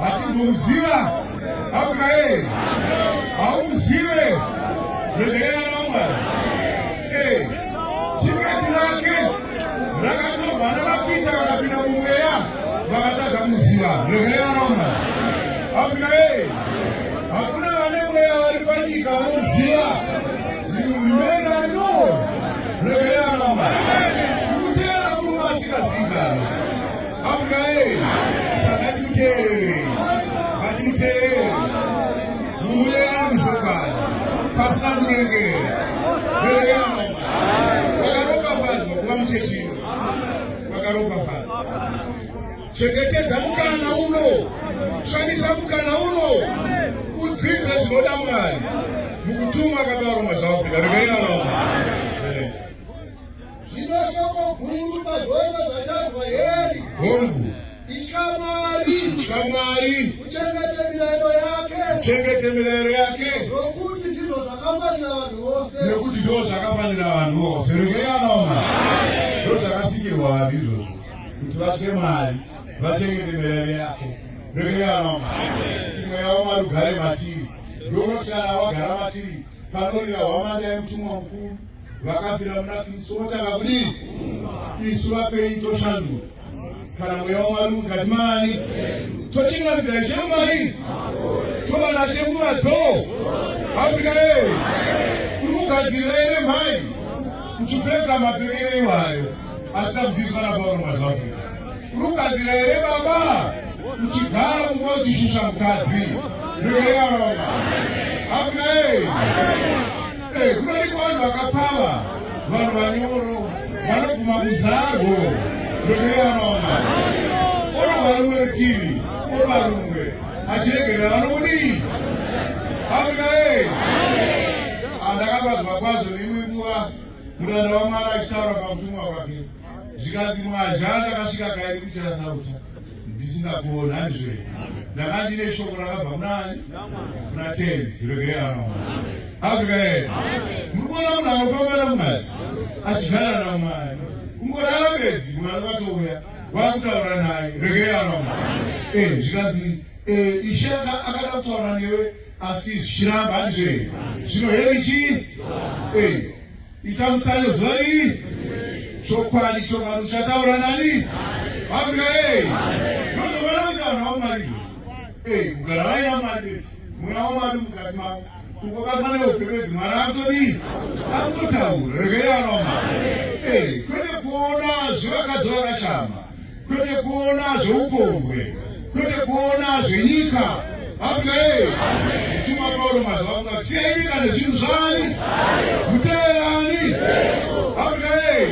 Hatimbomuziva. Amuna ee. Haumuzive. Regerera namwari. Ee. Tiketi rake rakatovana rapita rakapinda mumweya vakatadza kumuziva. Regerera namwari. Amuna ee. Hakuna vane mweya vari panyika vanomuziva. Mumena Amen. Saka tikuteerere. Ngatimuteerere. Munhu uye ari muchokwadi. Pasina kunyengerera. Vereka mama. Wakaropafadzwa kuva muchechino. Wakaropafadzwa. Chengetedza mukana uno. Shandisa mukana uno. Kudzidza zvinoda Mwari. Mukutuma akabarwa mazvawo. Vereka mama. Zvino shoko guru pazvose zvatadzwa heri. Hongu. Itya Mwari. Itya Mwari. Uchengete mirayiro yake. Uchengete mirayiro yake. Nokuti ndizvo zvakafanira vanhu vose. Nokuti ndizvo zvakafanira vanhu vose. Regerana mama. Ndizvo zvakasikirwa vanhu izvozvo. Kuti vatye Mwari. Vachengete mirayiro yake. Regerana mama. Imwe yavo Mwari ugare matiri. Ndokuti kana wagara matiri. Panorira hwamanda yemutumwa mukuru. vakafira muna kristu votanga kudii isu vapenyu toshandura kana mweya wamwari mukati mani tochingamidza ishe mumai toba nashe nguva dzoo afrika ee kuri kugadzirira ere mhai kuchipfeka mapekere iwayo asabviswa napauro mazvaafrika kuri kugadzirira ere baba kuchigara kunguva uchishusha mukadzi ndoeyaaa afrika ee Eh, kunoiko vanhu vakapava vanhu vanyoro vanoguma kuzarwo ndokuyanoma orova rumwe rutivi oba rumwe achiregerera vanokudii afrika e andakapadzwa ah, kwazvo neimwe nguva muranda wamwari achitaura pakutumwa kwake zvikanzi mwazha ndakasvika kairi kuchera sauta ndisina kuona handizve ndakati neshoko rakabva kunani kuna tenzi regerano afrika yee muri kuona munhu anofamba namwari achigara namwari kungorara bedzi mwari vatouya vakutaura naye regerano eh, zvikanzi eh, ishe akada kutaura newe asi zvichiramba handizve zvino heri chii eh. Ita mutsayo zvoi chokwadi chokwadi chataura nani Afrika hey nozovana kuti vanhu vaumari hey kugara vaina mari mweya wamari mukati mavo ukokafanira kupembedzi mwari akutodii akutotaura regai anoma hey kwete kuona zvivakadzi vakashama kwete kuona zveupombwe, kwete kuona zvenyika. Amen. Chuma Paulo mazuva ano siyai nyika nezvinhu zvani muteerani. Amen.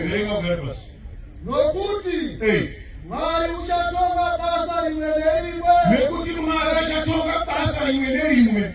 Erenga kudai pasi. Nokuti Mwari uchatonga basa rimwe nerimwe. Nekuti Mwari achatonga basa rimwe nerimwe.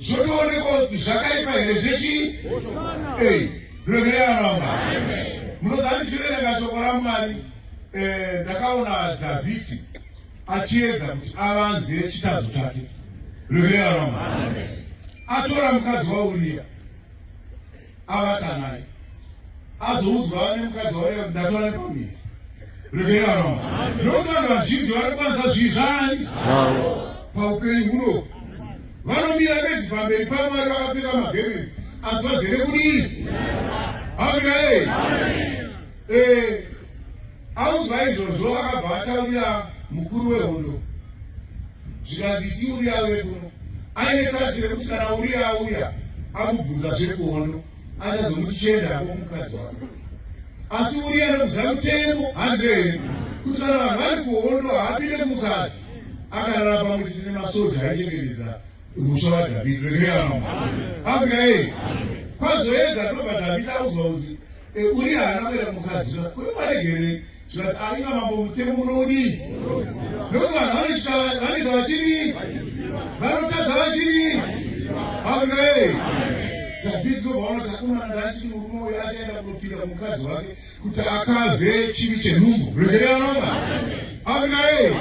zvotoonekwa kuti zvakaipa here zvechii ei revereanama munozani chiverenga shoko ramwari eh, ndakaona dhavhidhi achiedza kuti avanze chitadzo chake revereanama atora mukadzi wauriya avata naye azoudzwa ane mukadzi wauya ndatora nepamiri regeraro nokuti vanhu vazhinji vari kwanza zvii zvani paupenyu huno vanomira vezi pamberi pamwari vakapfeka magemenzi asi vazere kudii hakunai Eh, audzwa izvozvo akabva ataurira mukuru wehondo zvikanzi tiuriya vekuno aine tarisiro yekuti kana uriya auya amubvunza zvekuhondo achazomuti chienda hako kumukadzi wako asi uriya anobvunza mutemo hanzi here kuti kana vanhu vari kuhondo haapinde kumukadzi akarara pamwe chete nemasoja aichengetedza musha wadhavhidhi rekeama afrika yei kwazoedza ndobva dhavhidhi audzwa uzi Uriya haana kuenda kumukadzi uye waregerei zvati aiva mambo mutemo unodii nokuti vanhu vanoita vachidii vanotadza vachidii amen dhavhidhi ndovanoti akomana ndachiti murume uyo achaenda kunopinda kumukadzi wake kuti akave chivi chenhumbu regereranova amen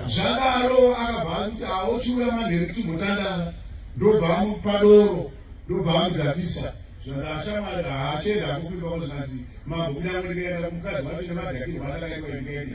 zvadaro akabva akuti aochiuya manheru kuti mutandara ndobva amupa doro ndobva vandidzakisa zvashamwari haachenda akupimba kuti kanzi mambo kunyangwe ndikaenda kumukadzi wacho nemadhakirwa andakaitwa ndikaenda